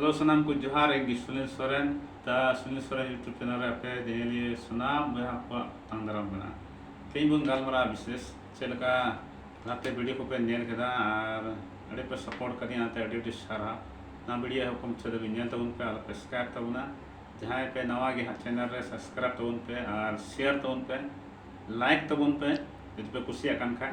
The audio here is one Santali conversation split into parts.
ᱦᱮᱞᱳ ᱥᱟᱱᱟᱢ ᱠᱚ ᱡᱚᱦᱟᱨ ᱤᱧ ᱜᱮ ᱥᱩᱱᱤᱞ ᱥᱚᱨᱮᱱ ᱛᱟ ᱥᱩᱱᱤᱞ ᱥᱚᱨᱮᱱ ᱤᱭᱩᱴᱩᱵᱽ ᱪᱮᱱᱮᱞ ᱨᱮ ᱟᱯᱮ ᱡᱮᱦᱮᱞᱤᱭᱟᱹ ᱥᱟᱱᱟᱢ ᱵᱚᱭᱦᱟ ᱠᱚᱣᱟᱜ ᱛᱟᱝ ᱫᱟᱨᱟᱢ ᱢᱮᱱᱟᱜᱼᱟ ᱛᱮᱦᱮᱧ ᱵᱚᱱ ᱜᱟᱞᱢᱟᱨᱟᱣ ᱵᱤᱥᱮᱥ ᱪᱮᱫ ᱞᱮᱠᱟ ᱞᱟᱦᱟᱛᱮ ᱵᱷᱤᱰᱤᱭᱳ ᱠᱚᱯᱮ ᱧᱮᱞ ᱠᱮᱫᱟ ᱟᱨ ᱟᱹᱰᱤ ᱯᱮ ᱥᱟᱯᱳᱨᱴ ᱠᱟᱫᱤᱧᱟ ᱚᱱᱟᱛᱮ ᱟᱹᱰᱤ ᱟᱹᱰᱤ ᱥᱟᱨᱦᱟᱣ ᱱᱚᱣᱟ ᱵᱷᱤᱰᱤᱭᱳ ᱮᱦᱚᱵ ᱠᱷᱚᱱ ᱢᱩᱪᱟᱹᱫ ᱫᱷᱟᱹᱵᱤᱡ ᱧᱮᱞ ᱛᱟᱵᱚᱱ ᱯᱮ ᱟᱨ ᱯᱮ ᱥᱟᱵᱥᱠᱨᱟᱭᱤᱵ ᱛᱟᱵᱚᱱᱟ ᱡᱟᱦᱟᱸᱭ ᱯᱮ ᱱᱟᱣᱟ ᱜᱮ ᱦᱟᱸᱜ ᱪᱮᱱᱮᱞ ᱨᱮ ᱥᱟᱵᱥᱠᱨᱟᱭᱤᱵ ᱛᱟᱵᱚᱱ ᱯᱮ ᱟᱨ ᱥᱮᱭᱟᱨ ᱛᱟᱵᱚᱱ ᱯᱮ ᱞᱟᱭᱤᱠ ᱛᱟᱵᱚᱱ ᱯᱮ ᱡᱩᱫᱤ ᱯᱮ ᱠᱩᱥᱤᱭᱟᱜ ᱠᱟᱱ ᱠᱷᱟᱡ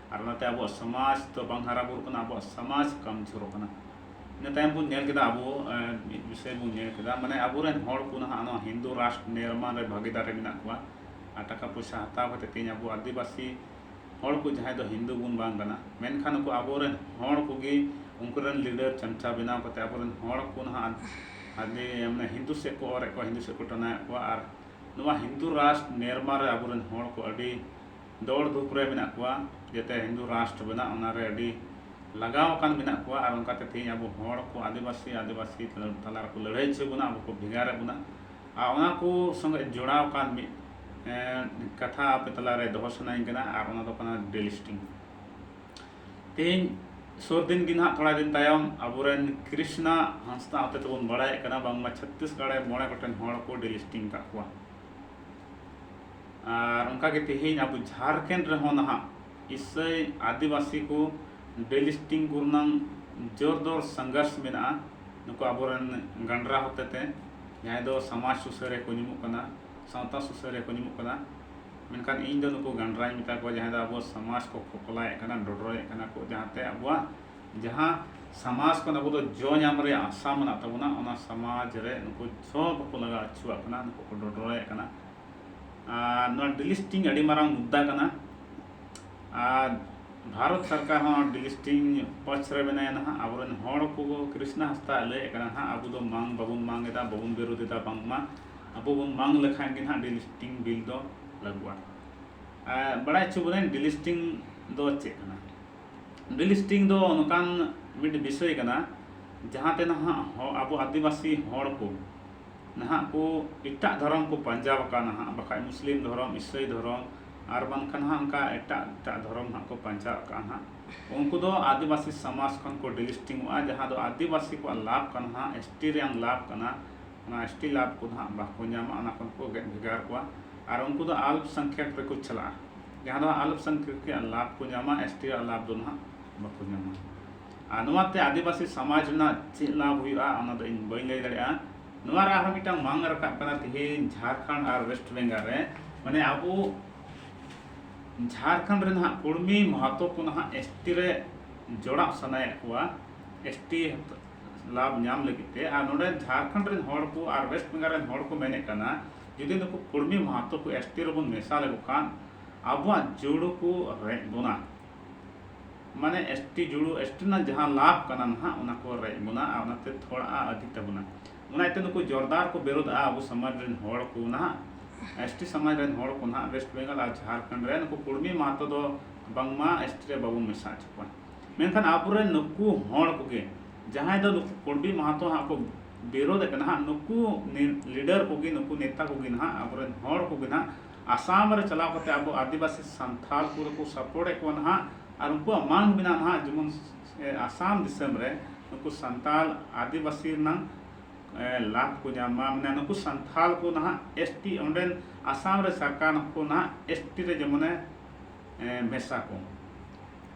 ᱟᱨ ᱚᱱᱟᱛᱮ ᱟᱵᱚᱣᱟᱜ ᱥᱚᱢᱟᱡᱽ ᱫᱚ ᱵᱟᱝ ᱦᱟᱨᱟ ᱵᱩᱨᱩᱜ ᱠᱟᱱᱟ ᱟᱵᱚᱣᱟᱜ ᱥᱚᱢᱟᱡᱽ ᱠᱚᱢᱡᱳᱨᱚᱜ ᱠᱟᱱᱟ ᱤᱱᱟᱹ ᱛᱟᱭᱚᱢ ᱵᱚᱱ ᱧᱮᱞ ᱠᱮᱫᱟ ᱟᱵᱚ ᱢᱤᱫ ᱵᱤᱥᱚᱭ ᱵᱚᱱ ᱧᱮᱞ ᱠᱮᱫᱟ ᱢᱟᱱᱮ ᱟᱵᱚᱨᱮᱱ ᱦᱚᱲ ᱠᱚ ᱱᱟᱦᱟᱜ ᱱᱚᱣᱟ ᱦᱤᱱᱫᱩ ᱨᱟᱥᱴᱨ ᱱᱤᱨᱢᱟᱱ ᱨᱮ ᱵᱷᱟᱹᱜᱤᱫᱟᱨ ᱨᱮ ᱢᱮᱱᱟᱜ ᱠᱚᱣᱟ ᱟᱨ ᱴᱟᱠᱟ ᱯᱚᱭᱥᱟ ᱦᱟᱛᱟᱣ ᱠᱟᱛᱮ ᱛᱮᱦᱮᱧ ᱟᱵᱚ ᱟᱹᱫᱤᱵᱟᱹᱥᱤ ᱦᱚᱲ ᱠᱚ ᱡᱟᱦᱟᱸᱭ ᱫᱚ ᱦᱤᱱᱫᱩ ᱵᱚᱱ ᱵᱟᱝ ᱠᱟᱱᱟ ᱢᱮᱱᱠᱷᱟᱱ ᱩᱱᱠᱩ ᱟᱵᱚᱨᱮᱱ ᱦᱚᱲ ᱠᱚᱜᱮ ᱩᱱᱠᱩᱨᱮᱱ ᱞᱤᱰᱟᱨ ᱪᱟᱢᱪᱟ ᱵᱮᱱᱟᱣ ᱠᱟᱛᱮ ᱟᱵᱚᱨᱮᱱ ᱦᱚᱲ ᱠᱚ ᱱᱟᱦᱟᱜ ᱟᱹᱰᱤ ᱢᱟᱱᱮ ᱦᱤᱱᱫᱩ ᱥᱮᱫ ᱠᱚ ᱚᱨᱮᱫ ᱠᱚᱣᱟ ᱦᱤᱱᱫᱩ ᱥᱮᱫ ᱠᱚ ᱴᱟᱱᱟᱣᱮᱫ ᱠᱚᱣᱟ ᱟᱨ ᱱᱚᱣᱟ ᱦᱤᱱᱫᱩ ᱨᱟᱥᱴᱨ ᱱᱤᱨᱢᱟᱱ ᱨᱮ ᱟᱵᱚᱨᱮᱱ ᱦᱚᱲ ᱠᱚ ᱟᱹᱰᱤ ᱫᱚᱲ ᱫᱷᱩᱯ ᱨᱮ ᱢᱮᱱᱟᱜ ᱠᱚᱣᱟ ᱡᱟᱛᱮ ᱦᱤᱱᱫᱩ ᱨᱟᱥᱴᱨᱚ ᱵᱮᱱᱟᱜ ᱚᱱᱟ ᱨᱮ ᱟᱹᱰᱤ ᱞᱟᱜᱟᱣ ᱟᱠᱟᱱ ᱢᱮᱱᱟᱜ ᱠᱚᱣᱟ ᱟᱨ ᱚᱱᱠᱟ ᱛᱮ ᱛᱮᱦᱮᱧ ᱟᱵᱚ ᱦᱚᱲ ᱠᱚ ᱟᱹᱫᱤᱵᱟᱹᱥᱤ ᱟᱹᱫᱤᱵᱟᱹᱥᱤ ᱛᱟᱞᱟ ᱨᱮᱠᱚ ᱞᱟᱹᱲᱦᱟᱹᱭ ᱦᱚᱪᱚᱭᱮᱫ ᱵᱚᱱᱟ ᱟᱵᱚ ᱠᱚ ᱵᱷᱮᱜᱟᱨᱮᱫ ᱵᱚᱱᱟ ᱟᱨ ᱚᱱᱟ ᱠᱚ ᱥᱚᱸᱜᱮ ᱡᱚᱲᱟᱣ ᱟᱠᱟᱱ ᱢᱤᱫ ᱠᱟᱛᱷᱟ ᱟᱯᱮ ᱛᱟᱞᱟ ᱨᱮ ᱫᱚᱦᱚ ᱥᱟᱱᱟᱧ ᱠᱟᱱᱟ ᱟᱨ ᱚᱱᱟ ᱫᱚ ᱠᱟᱱᱟ ᱰᱮᱞᱤᱥᱴᱤᱝ ᱛᱮᱦᱮᱧ ᱥᱩᱨ ᱫᱤᱱ ᱜᱮ ᱱᱟᱦᱟᱜ ᱛᱷᱚᱲᱟ ᱫᱤᱱ ᱛᱟᱭᱚᱢ ᱟᱵᱚᱨᱮᱱ ᱠᱨᱤᱥᱱᱟ ᱦᱟᱸᱥᱫᱟ ᱦᱚᱛᱮ ᱛᱮᱵᱚᱱ ᱵᱟᱲᱟᱭᱮᱫ ᱠᱟᱱᱟ ᱵᱟᱝᱢᱟ ᱪᱷᱚᱛᱛᱤᱥᱜᱚᱲ ᱨᱮ ᱢᱚᱬᱮ ᱜᱚᱴᱮᱱ ᱦᱚᱲ ᱠᱚ ᱰᱮᱞᱤᱥᱴᱤᱝ ᱟᱠᱟᱫ ᱠᱚᱣᱟ ᱟᱨ ᱚᱱᱠᱟ ᱜᱮ ᱛᱮᱦᱮᱧ ᱟᱵᱚ ᱡᱷᱟᱨᱠᱷᱮᱸᱰ ᱨᱮᱦᱚᱸ ᱱᱟᱦᱟᱜ ᱤᱥᱟᱹᱭ ᱟᱹᱫᱤᱵᱟᱹᱥᱤ ᱠᱚ ᱰᱮᱞᱤᱥᱴᱤᱝ ᱠᱚ ᱨᱮᱱᱟᱝ ᱡᱳᱨ ᱫᱳᱨ ᱥᱚᱝᱜᱷᱚᱨᱥ ᱢᱮᱱᱟᱜᱼᱟ ᱱᱩᱠᱩ ᱟᱵᱚ ᱨᱮᱱ ᱜᱟᱸᱰᱨᱟ ᱦᱚᱛᱮ ᱛᱮ ᱡᱟᱦᱟᱸᱭ ᱫᱚ ᱥᱚᱢᱟᱡᱽ ᱥᱩᱥᱟᱹᱨᱤᱭᱟᱹ ᱠᱚ ᱧᱩᱢᱩᱜ ᱠᱟᱱᱟ ᱥᱟᱶᱛᱟ ᱥᱩᱥᱟᱹᱨᱤᱭᱟᱹ ᱠᱚ ᱧᱩᱢᱩᱜ ᱠᱟᱱᱟ ᱢᱮᱱᱠᱷᱟᱱ ᱤᱧ ᱫᱚ ᱱᱩᱠᱩ ᱜᱟᱸᱰᱨᱟᱧ ᱢᱮᱛᱟ ᱠᱚᱣᱟ ᱡᱟᱦᱟᱸᱭ ᱫᱚ ᱟᱵᱚ ᱥᱚᱢᱟᱡᱽ ᱠᱚ ᱯᱷᱚᱯᱷᱚᱞᱟᱭᱮᱫ ᱠᱟᱱᱟ ᱰᱚᱰᱨᱚᱭᱮᱫ ᱠᱟᱱᱟ ᱠᱚ ᱡᱟᱦᱟᱸ ᱛᱮ ᱟᱵᱚᱣᱟᱜ ᱡᱟᱦᱟᱸ ᱥᱚᱢᱟᱡᱽ ᱠᱷᱚᱱ ᱟᱵᱚ ᱫᱚ ᱡᱚ ᱧᱟᱢ ᱨᱮᱭᱟᱜ ᱟᱥᱟ ᱢᱮᱱᱟᱜ ᱛᱟᱵᱚᱱᱟ ᱚᱱᱟ ᱥᱚᱢᱟᱡᱽ ᱨᱮ ᱱᱩᱠᱩ ᱡᱚ ᱵᱟᱠᱚ ᱞᱟᱜᱟᱣ ᱦᱚᱪᱚᱣᱟᱜ ᱠᱟᱱᱟ ᱱᱩᱠᱩ ᱠᱚ ᱰᱚᱰᱨᱚᱭᱮᱫ ᱠᱟᱱᱟ ᱟᱨ ᱱᱚᱣᱟ ᱰᱤᱞᱤᱥᱴᱤᱝ ᱟᱹᱰᱤ ᱢᱟᱨᱟᱝ ᱢᱩᱫᱽᱫᱟ ᱠᱟᱱᱟ ᱟᱨ ᱵᱷᱟᱨᱚᱛ ᱥᱚᱨᱠᱟᱨ ᱦᱚᱸ ᱰᱤᱞᱤᱥᱴᱤᱝ ᱯᱚᱪᱷ ᱨᱮ ᱢᱮᱱᱟᱭᱟ ᱱᱟᱦᱟᱜ ᱟᱵᱚᱨᱮᱱ ᱦᱚᱲ ᱠᱚ ᱠᱨᱤᱥᱱᱟ ᱦᱟᱸᱥᱫᱟ ᱞᱟᱹᱭᱮᱫ ᱠᱟᱱᱟ ᱱᱟᱦᱟᱜ ᱟᱵᱚ ᱫᱚ ᱢᱟᱝ ᱵᱟᱵᱚᱱ ᱢᱟᱝ ᱮᱫᱟ ᱵᱟᱵᱚᱱ ᱵᱤᱨᱳᱫᱷ ᱮᱫᱟ ᱵᱟᱝᱢᱟ ᱟᱵᱚ ᱵᱚᱱ ᱢᱟᱝ ᱞᱮᱠᱷᱟᱱ ᱜᱮ ᱱᱟᱦᱟᱜ ᱰᱤᱞᱤᱥᱴᱤᱝ ᱵᱤᱞ ᱫᱚ ᱞᱟᱹᱜᱩᱜᱼᱟ ᱟᱨ ᱵᱟᱲᱟᱭ ᱦᱚᱪᱚ ᱵᱚᱱᱟᱹᱧ ᱰᱤᱞᱤᱥᱴᱤᱝ ᱫᱚ ᱪᱮᱫ ᱠᱟᱱᱟ ᱰᱤᱞᱤᱥᱴᱤᱝ ᱫᱚ ᱱᱚᱝᱠᱟᱱ ᱢᱤᱫ ᱵᱤᱥᱚᱭ ᱠᱟᱱᱟ ᱡᱟᱦᱟᱸᱛᱮ ᱱᱟᱦᱟᱜ ᱟᱵᱚ ᱟᱹᱫᱤᱵᱟᱹᱥᱤ ᱦᱚᱲ ᱠᱚ ᱱᱟᱦᱟᱜ ᱠᱚ ᱮᱴᱟᱜ ᱫᱷᱚᱨᱚᱢ ᱠᱚ ᱯᱟᱧᱡᱟ ᱟᱠᱟᱫ ᱱᱟᱦᱟᱜ ᱵᱟᱠᱷᱟᱡ ᱢᱩᱥᱞᱤᱢ ᱫᱷᱚᱨᱚᱢ ᱤᱥᱟᱹᱭ ᱫᱷᱚᱨᱚᱢ ᱟᱨ ᱵᱟᱝ ᱠᱷᱟᱱ ᱱᱟᱦᱟᱜ ᱚᱱᱠᱟ ᱮᱴᱟᱜ ᱮᱴᱟᱜ ᱫᱷᱚᱨᱚᱢ ᱱᱟᱦᱟᱜ ᱠᱚ ᱯᱟᱧᱡᱟ ᱟᱠᱟᱫ ᱱᱟᱦᱟᱜ ᱩᱱᱠᱩ ᱫᱚ ᱟᱹᱫᱤᱵᱟᱹᱥᱤ ᱥᱚᱢᱟᱡᱽ ᱠᱷᱚᱱ ᱠᱚ ᱰᱤᱞᱤᱥᱴᱤᱝᱚᱜᱼᱟ ᱡᱟᱦᱟᱸ ᱫᱚ ᱟᱹᱫᱤᱵᱟᱹᱥᱤ ᱠᱚᱣᱟᱜ ᱞᱟᱵᱷ ᱠᱟᱱᱟ ᱱᱟᱦᱟᱜ ᱮᱥ ᱴᱤ ᱨᱮᱭᱟᱝ ᱞᱟᱵᱷ ᱠᱟᱱᱟ ᱚᱱᱟ ᱮᱥ ᱴᱤ ᱞᱟᱵᱷ ᱠᱚ ᱱᱟᱦᱟᱜ ᱵᱟᱠᱚ ᱧᱟᱢᱟ ᱚᱱᱟ ᱠᱷᱚᱱ ᱠᱚ ᱜᱮᱫ ᱵᱷᱮᱜᱟᱨ ᱠᱚᱣᱟ ᱟᱨ ᱩᱱᱠᱩ ᱫᱚ ᱟᱞᱯ ᱥᱚᱝᱠᱷᱮᱠ ᱨᱮᱠᱚ ᱪᱟᱞᱟᱜᱼᱟ ᱡᱟᱦᱟᱸ ᱫᱚ ᱟᱞᱯ ᱥᱚᱝᱠᱷᱮᱠ ᱨᱮᱭᱟᱜ ᱞᱟᱵᱷ ᱠᱚ ᱧᱟᱢᱟ ᱮᱥ ᱴᱤ ᱨᱮᱭᱟᱜ ᱞᱟᱵᱷ ᱫᱚ ᱱᱟᱦᱟᱜ ᱵᱟᱠᱚ ᱧᱟᱢᱟ ᱟᱨ ᱱᱚᱣᱟ ᱛᱮ ᱟᱹᱫᱤᱵᱟᱹᱥᱤ ᱥᱚᱢᱟᱡᱽ ᱨᱮᱱᱟᱜ ᱪᱮᱫ ᱞᱟᱵᱷ ᱦᱩᱭᱩᱜᱼᱟ ᱚᱱᱟ ᱫᱚ ᱤᱧ ᱵᱟᱹᱧ ᱞᱟᱹᱭ ᱫᱟᱲᱮᱭᱟᱜᱼᱟ ᱱᱚᱣᱟ ᱨᱮ ᱟᱨᱦᱚᱸ ᱢᱤᱫᱴᱟᱝ ᱢᱟᱝ ᱨᱟᱠᱟᱵ ᱠᱟᱱᱟ ᱛᱮᱦᱮᱧ ᱡᱷᱟᱲᱠᱷᱚᱸᱰ ᱟᱨ ᱣᱮᱥᱴ ᱵᱮᱝᱜᱚᱞ ᱨᱮ ᱢᱟᱱᱮ ᱟᱵᱚ ᱡᱷᱟᱲᱠᱷᱚᱸᱰ ᱨᱮ ᱱᱟᱦᱟᱜ ᱠᱩᱲᱢᱤ ᱢᱟᱦᱟᱛᱚ ᱠᱚ ᱱᱟᱦᱟᱜ ᱮᱥ ᱴᱤ ᱨᱮ ᱡᱚᱲᱟᱣ ᱥᱟᱱᱟᱭᱮᱫ ᱠᱚᱣᱟ ᱮᱥ ᱴᱤ ᱞᱟᱵᱷ ᱧᱟᱢ ᱞᱟᱹᱜᱤᱫ ᱛᱮ ᱟᱨ ᱱᱚᱰᱮ ᱡᱷᱟᱲᱠᱷᱚᱸᱰ ᱨᱮᱱ ᱦᱚᱲ ᱠᱚ ᱟᱨ ᱣᱮᱥᱴ ᱵᱮᱝᱜᱚᱞ ᱨᱮᱱ ᱦᱚᱲ ᱠᱚ ᱢᱮᱱᱮᱫ ᱠᱟᱱᱟ ᱡᱩᱫᱤ ᱱᱩᱠᱩ ᱠᱩᱲᱢᱤ ᱢᱟᱦᱟᱛᱚ ᱠᱚ ᱮᱥ ᱴᱤ ᱨᱮᱵᱚᱱ ᱢᱮᱥᱟ ᱞᱮᱠᱚ ᱠᱷᱟᱱ ᱟᱵᱚᱣᱟᱜ ᱡᱩᱲᱩ ᱠᱚ ᱨᱮᱡ ᱵᱚᱱᱟ ᱢᱟᱱᱮ ᱮᱥᱴᱤ ᱡᱩᱲᱩ ᱮᱥᱴᱤ ᱨᱮᱱᱟᱜ ᱡᱟᱦᱟᱸ ᱞᱟᱵᱷ ᱠᱟᱱᱟ ᱱᱟᱦᱟᱜ ᱚᱱᱟ ᱠᱚ ᱨᱮᱡ ᱵᱚᱱᱟ ᱟᱨ ᱚᱱᱟᱛᱮ ᱛᱷᱚᱲᱟ ᱟᱹᱫᱷᱤ ᱛᱟᱵᱚᱱᱟ ᱚᱱᱟ ᱤᱭᱟᱹᱛᱮ ᱱᱩᱠᱩ ᱡᱳᱨᱫᱟᱨ ᱠᱚ ᱵᱤᱨᱳᱫᱷᱼᱟ ᱟᱵᱚ ᱥᱚᱢᱟᱡᱽ ᱨᱮᱱ ᱦᱚᱲ ᱠᱚ ᱱᱟᱦᱟᱜ ᱮᱥᱴᱤ ᱥᱚᱢᱟᱡᱽ ᱨᱮᱱ ᱦᱚᱲ ᱠᱚ ᱱᱟᱦᱟᱜ ᱣᱮᱥᱴ ᱵᱮᱝᱜᱚᱞ ᱟᱨ ᱡᱷᱟᱨᱠᱷᱚᱸᱰ ᱨᱮ ᱱᱩᱠᱩ ᱠᱩᱲᱢᱤ ᱢᱟᱦᱟᱛᱚ ᱫᱚ ᱵᱟᱝᱢᱟ ᱮᱥᱴᱤ ᱨᱮ ᱵᱟᱵᱚᱱ ᱢᱮᱥᱟ ᱦᱚᱪᱚ ᱠᱚᱣᱟ ᱢᱮᱱᱠᱷᱟᱱ ᱟᱵᱚᱨᱮᱱ ᱱᱩᱠᱩ ᱦᱚᱲ ᱠᱚᱜᱮ ᱡᱟᱦᱟᱸᱭ ᱫᱚ ᱱᱩᱠᱩ ᱠᱩᱲᱢᱤ ᱢᱟᱦᱟᱛᱚ ᱦᱟᱸᱜ ᱠᱚ ᱵᱤᱨᱳᱫᱷ ᱠᱟᱱᱟ ᱦᱟᱸᱜ ᱱᱩᱠᱩ ᱞᱤᱰᱟᱨ ᱠᱚᱜᱮ ᱱᱩᱠᱩ ᱱᱮᱛᱟ ᱠᱚᱜᱮ ᱱᱟᱦᱟᱜ ᱟᱵᱚᱨᱮᱱ ᱦᱚᱲ ᱠᱚᱜᱮ ᱱᱟᱦᱟᱜ ᱟᱥᱟᱢ ᱨᱮ ᱪᱟᱞᱟᱣ ᱠᱟᱛᱮ ᱟᱵᱚ ᱟᱹᱫᱤᱵᱟᱹᱥᱤ ᱥᱟᱱᱛᱷᱟᱞ ᱠᱚ ᱨᱮᱠᱚ ᱥᱟᱯᱚᱨᱴ ᱮᱫ ᱠᱚᱣᱟ ᱱᱟᱦᱟᱜ ᱟᱨ ᱩᱱᱠᱩᱣᱟᱜ ᱢᱟᱝ ᱢᱮᱱᱟᱜᱼᱟ ᱱᱟᱦᱟᱜ ᱡᱮᱢᱚᱱ ᱟᱥᱟᱢ ᱫᱤᱥᱚᱢ ᱨᱮ ᱱᱩᱠᱩ ᱥᱟᱱᱛᱟᱞ ᱟᱹᱫᱤᱵᱟᱹᱥᱤ ᱨᱮᱱᱟᱝ ᱞᱟᱵᱷ ᱠᱚ ᱧᱟᱢ ᱢᱟ ᱢᱟᱱᱮ ᱱᱩᱠᱩ ᱥᱟᱱᱛᱷᱟᱞ ᱠᱚ ᱱᱟᱦᱟᱜ ᱮᱥ ᱴᱤ ᱚᱸᱰᱮᱱ ᱟᱥᱟᱢ ᱨᱮ ᱥᱚᱨᱠᱟᱨ ᱠᱚ ᱱᱟᱦᱟᱜ ᱮᱥ ᱴᱤ ᱨᱮ ᱡᱮᱢᱚᱱᱮ ᱢᱮᱥᱟ ᱠᱚ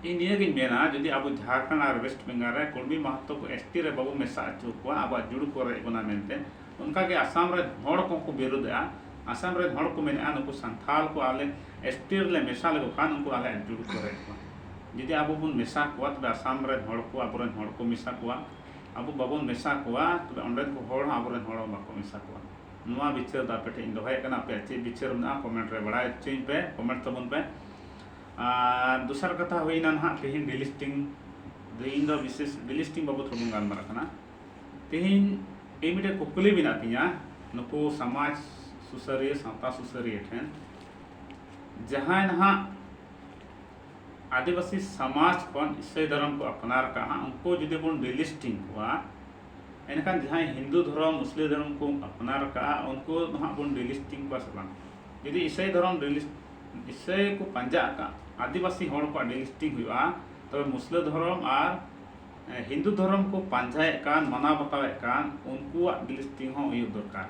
ᱤᱧ ᱱᱤᱭᱟᱹ ᱜᱤᱧ ᱢᱮᱱᱟ ᱡᱩᱫᱤ ᱟᱵᱚ ᱡᱷᱟᱲᱠᱷᱚᱸᱰ ᱟᱨ ᱳᱭᱮᱥᱴ ᱵᱮᱝᱜᱚᱞ ᱨᱮ ᱠᱩᱲᱢᱤ ᱢᱟᱦᱟᱛᱚ ᱠᱚ ᱮᱥ ᱴᱤ ᱨᱮ ᱵᱟᱵᱚ ᱢᱮᱥᱟ ᱦᱚᱪᱚ ᱟᱠᱚᱣᱟ ᱟᱵᱚᱣᱟᱜ ᱡᱩᱲᱩ ᱠᱚ ᱨᱮᱡ ᱵᱚᱱᱟ ᱢᱮᱱᱛᱮ ᱚᱱᱠᱟ ᱜᱮ ᱟᱥᱟᱢ ᱨᱮᱱ ᱦᱚᱲ ᱠᱚᱦᱚᱸ ᱠᱚ ᱵᱤᱨᱩᱫᱷᱮᱜᱼᱟ᱾ ᱟᱥᱟᱢ ᱨᱮᱱ ᱦᱚᱲ ᱠᱚ ᱢᱮᱱᱮᱜᱼᱟ ᱱᱩᱠᱩ ᱥᱟᱱᱛᱷᱟᱞ ᱠᱚ ᱟᱞᱮ ᱮᱥᱴᱤ ᱨᱮᱞᱮ ᱢᱮᱥᱟ ᱞᱮᱠᱚ ᱠᱷᱟᱱ ᱩᱱᱠᱩ ᱟᱞᱮ ᱟᱹᱰᱤ ᱡᱳᱨ ᱠᱚ ᱨᱮᱡ ᱠᱚᱣᱟ᱾ ᱡᱩᱫᱤ ᱟᱵᱚ ᱵᱚᱱ ᱢᱮᱥᱟ ᱠᱚᱣᱟ ᱛᱚᱵᱮ ᱟᱥᱟᱢ ᱨᱮᱱ ᱦᱚᱲ ᱠᱚ ᱟᱵᱚ ᱨᱮᱱ ᱦᱚᱲ ᱠᱚ ᱢᱮᱥᱟ ᱠᱚᱣᱟ᱾ ᱟᱵᱚ ᱵᱟᱵᱚᱱ ᱢᱮᱥᱟ ᱠᱚᱣᱟ ᱛᱚᱵᱮ ᱚᱸᱰᱮᱱ ᱠᱚ ᱦᱚᱲ ᱦᱚᱸ ᱟᱵᱚ ᱨᱮᱱ ᱦᱚᱲ ᱦᱚᱸ ᱵᱟᱠᱚ ᱢᱮᱥᱟ ᱠᱚᱣᱟ᱾ ᱱᱚᱣᱟ ᱵᱤᱪᱟᱹᱨ ᱫᱚ ᱟᱯᱮ ᱴᱷᱮᱱ ᱤᱧ ᱫᱚᱦᱚᱭᱮᱫ ᱠᱟᱱᱟ ᱟᱯᱮᱭᱟᱜ ᱪᱮᱫ ᱵᱤᱪᱟᱹᱨ ᱢᱮᱱᱟᱜᱼᱟ ᱠᱚᱢᱮᱱᱴ ᱨᱮ ᱵᱟᱲᱟᱭ ᱦᱚᱪᱚᱧ ᱯᱮ ᱠᱚᱢᱮᱱᱴ ᱛᱟᱵᱚᱱ ᱯᱮ᱾ ᱟᱨ ᱫᱚᱥᱟᱨ ᱠᱟᱛᱷᱟ ᱦᱩᱭᱮᱱᱟ ᱱᱟᱦᱟᱜ ᱛᱮᱦᱮᱧ ᱰᱤᱞᱤᱥᱴᱤᱝ ᱫᱚ ᱤᱧ ᱫᱚ ᱵᱤᱥᱮᱥ ᱰᱤᱞᱤᱥᱴᱤᱝ ᱵᱟᱵᱚᱛ ᱨᱮᱵᱚᱱ ᱜᱟᱞᱢᱟᱨᱟᱜ ᱠᱟᱱᱟ᱾ ᱛᱮᱦᱮᱧ ᱤᱧ ᱢᱤᱫᱴᱮᱱ ᱠᱩᱠᱞᱤ ᱢᱮᱱᱟᱜ ᱛᱤᱧᱟᱹ ᱱᱩᱠᱩ ᱥᱚᱢᱟᱡᱽ ᱥᱩᱥᱟᱹᱨᱤᱭᱟᱹ ᱥᱟᱶᱛᱟ ᱥᱩᱥᱟᱹᱨᱤᱭᱟᱹ ᱴᱷᱮᱱ ᱡᱟᱦᱟᱸᱭ ᱱᱟᱦᱟᱜ ᱟᱹᱫᱤᱵᱟᱹᱥᱤ ᱥᱚᱢᱟᱡᱽ ᱠᱷᱚᱱ ᱤᱥᱟᱹᱭ ᱫᱷᱚᱨᱚᱢ ᱠᱚ ᱟᱯᱱᱟᱨ ᱠᱟᱜᱼᱟ ᱩᱱᱠᱩ ᱡᱩᱫᱤ ᱵᱚᱱ ᱰᱤᱞᱤᱥᱴᱤᱝ ᱠᱚᱣᱟ ᱮᱱᱠᱷᱟᱱ ᱡᱟᱦᱟᱸᱭ ᱦᱤᱱᱫᱩ ᱫᱷᱚᱨᱚᱢ ᱢᱩᱥᱞᱤᱢ ᱫᱷᱚᱨᱚᱢ ᱠᱚ ᱟᱯᱱᱟᱨ ᱠᱟᱜᱼᱟ ᱩᱱᱠᱩ ᱱᱟᱦᱟᱜ ᱵᱚᱱ ᱰᱤᱞᱤᱥᱴᱤᱝ ᱠᱚᱣᱟ ᱥᱮ ᱵᱟᱝ ᱡᱩᱫᱤ ᱤᱥᱟᱹᱭ ᱫᱷᱚᱨᱚᱢ ᱰᱤᱞᱤᱥ ᱤᱥᱟᱹᱭ ᱠᱚ ᱯᱟᱸᱡᱟ ᱟᱠᱟᱫ ᱟᱹᱫᱤᱵᱟᱹᱥᱤ ᱦᱚᱲ ᱠᱚᱣᱟᱜ ᱰᱤᱞᱤᱥᱴᱤᱝ ᱦᱩᱭᱩᱜᱼᱟ ᱛᱚᱵᱮ ᱢᱩᱥᱞᱟᱹ ᱫᱷᱚᱨᱚᱢ ᱟᱨ ᱦᱤᱱᱫᱩ ᱫᱷᱚᱨᱚᱢ ᱠᱚ ᱯᱟᱱᱡᱟᱭᱮᱫ ᱠᱟᱱ ᱢᱟᱱᱟᱣ ᱵᱟᱛᱟᱣᱮᱫ ᱠᱟᱱ ᱩᱱᱠᱩᱣᱟᱜ ᱜᱤᱞᱤᱥᱛᱤ ᱦᱚᱸ ᱦᱩᱭᱩᱜ ᱫᱚᱨᱠᱟᱨ